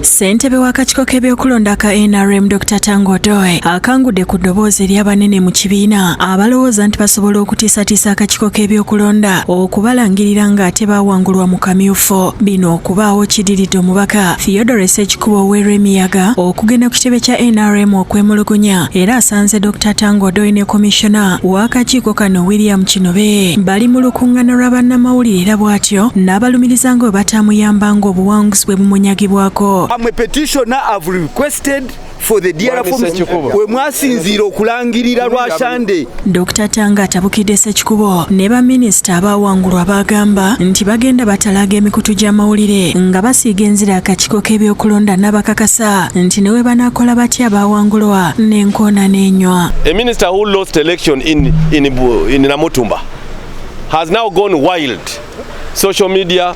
Ssentebe w'akakiiko k'ebyokulonda ka nrm Dr Tango Odoe akangudde ku ddoboozi ery'abanene mu kibiina abalowooza nti basobola okutiisatiisa akakiiko k'ebyokulonda okubalangirira ng'ate baawangulwa mu kamyufu. Bino okubaawo kidiridde omubaka Theodore Sekikubo oweerwa emiyaga okugenda ku kitebe kya nrm okwemulugunya era asanze Dr Tango Odoe ne komishona w'akakiiko kano William Kinobe bali mu lukungana lwa bannamawulire era bw'atyo n'abalumiriza nga bwe bataamuyambanga obuwanguzi Moses bwe bumunyagibwako. I'm a petitioner have requested for the dear forms we mwasinziira okulangirira lwashande Dr. Tanga atabukidde Ssekikubo ne baminisita abaawangulwa baagamba nti bagenda batalaaga emikutu gy'amawulire nga basiiga enzira akakiiko k'ebyokulonda n'abakakasa nti ne we banaakola batya abaawangulwa n'enkoona n'enywa A minister who lost election in, in, in Namutumba has now gone wild social media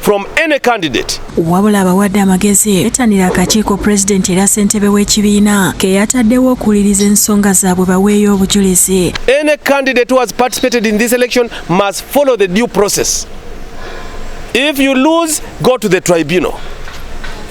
from any candidate. Wabula abawadde amagezi betanira akakiiko president era ssentebe w'ekibiina ke yataddewo okuwuliriza ensonga zaabwe baweeyo obujulizi. Any candidate who has participated in this election must follow the due process. If you lose, go to the tribunal.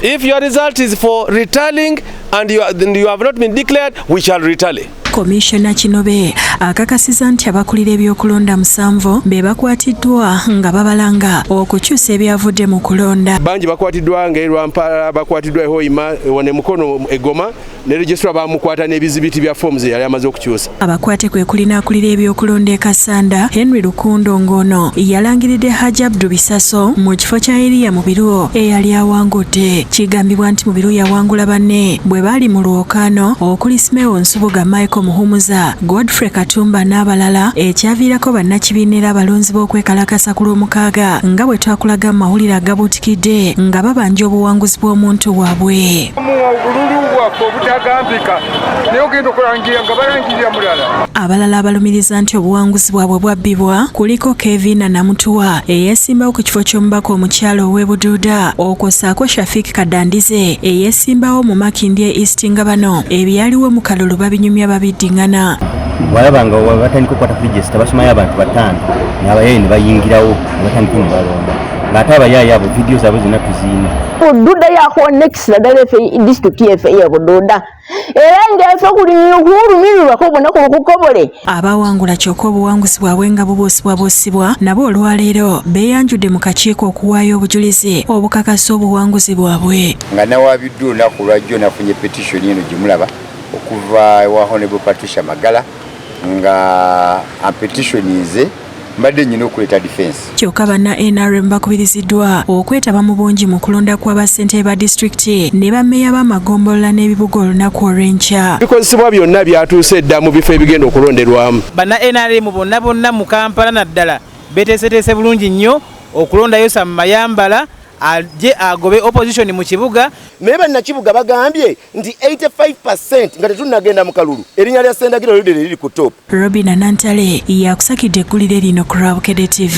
If your result is for retallying and you, and you have not been declared, we shall retally. Komisona Kinobe akakasiza nti abakulira ebyokulonda musanvu be bakwatiddwa nga babalanga okukyusa ebyavudde mu kulonda. Bangi bakwatiddwa nga erwampala bakwatiddwa ehoima wane mukono egoma ne registra bamukwata n'ebizibiti bya fomu ze yali amaze okukyusa. Abakwate kwe kulina akulira ebyokulonda e Kasanda Henry Lukundo ng'ono yalangiridde Haji Abdu Bisaso mu kifo kya Eriya Mubiru eyali awangudde. Kigambibwa nti Mubiru yawangula banne bwe baali mu Kano okuli Smeo Nsubuga, Michael Muhumuza, Godfrey Katumba n'abalala ekyaviirako bannakibiina era abalonzi b'okwekalakasa ku Lwomukaaga nga bwe twakulaga mu mawulire agabuutikidde nga babanja obuwanguzi bw'omuntu waabwe. obululu bwaffe obutagambika naye ogenda okulangira nga balangirira mulala. Abalala abalumiriza nti obuwanguzi bwabwe bwabbibwa kuliko Kevina Namutuwa eyeesimbawo ku kifo ky'omubaka omukyala ow'e Buduuda okwosaako Shafik Kadandize eyesimbawo mu Makindye East nga bano ebyaliwo mu kalulu babinyumya babiddingana walaba nga batandika okukwata frijesta basumayo abantu bataano nabayaye ne bayingirawo ne batandika ne balonda ng'ate abayaye abo vidiyo zaabwe zonna tuziina bududa yakuwa nekisira ddala efe disitulikiti yefe ye bududa era ng'ensi okulinyira okuwulumirirwako bonna ku lukukobole abawangula kyokka obuwanguzi bwabwe nga bubuusibwabuusibwa nabo olwaleero beeyanjudde mu kakiiko okuwaayo obujulizi obukakasa obuwanguzi bwabwe nga nawaabiddwa olunaku lwajjo nafunye petitioni eno gye mulaba okuva ewa honable patricia magala nga ampetitioni nze mbadde nyina okuleeta defense kyoka banna nrm bakubiriziddwa okwetaba mu bungi mu kulonda kwa bassentebe ba disitulikiti ne bameeya b'amagombolola n'ebibuga olunaku olw'enkya bikozesebwa byonna byatuuse dda mu bifo ebigenda okulonderwamu banna nrm bonna bonna mu kampala naddala beteeseteese bulungi nnyo okulondayo sam mayambala aje agobe opposition mu kibuga naye bannakibuga bagambye nti 85% nga tetunnagenda mu kalulu erinnya lya sendagiro lyodere liri ku top robina nantale yakusakidde eggulire lino ku rwabukede tv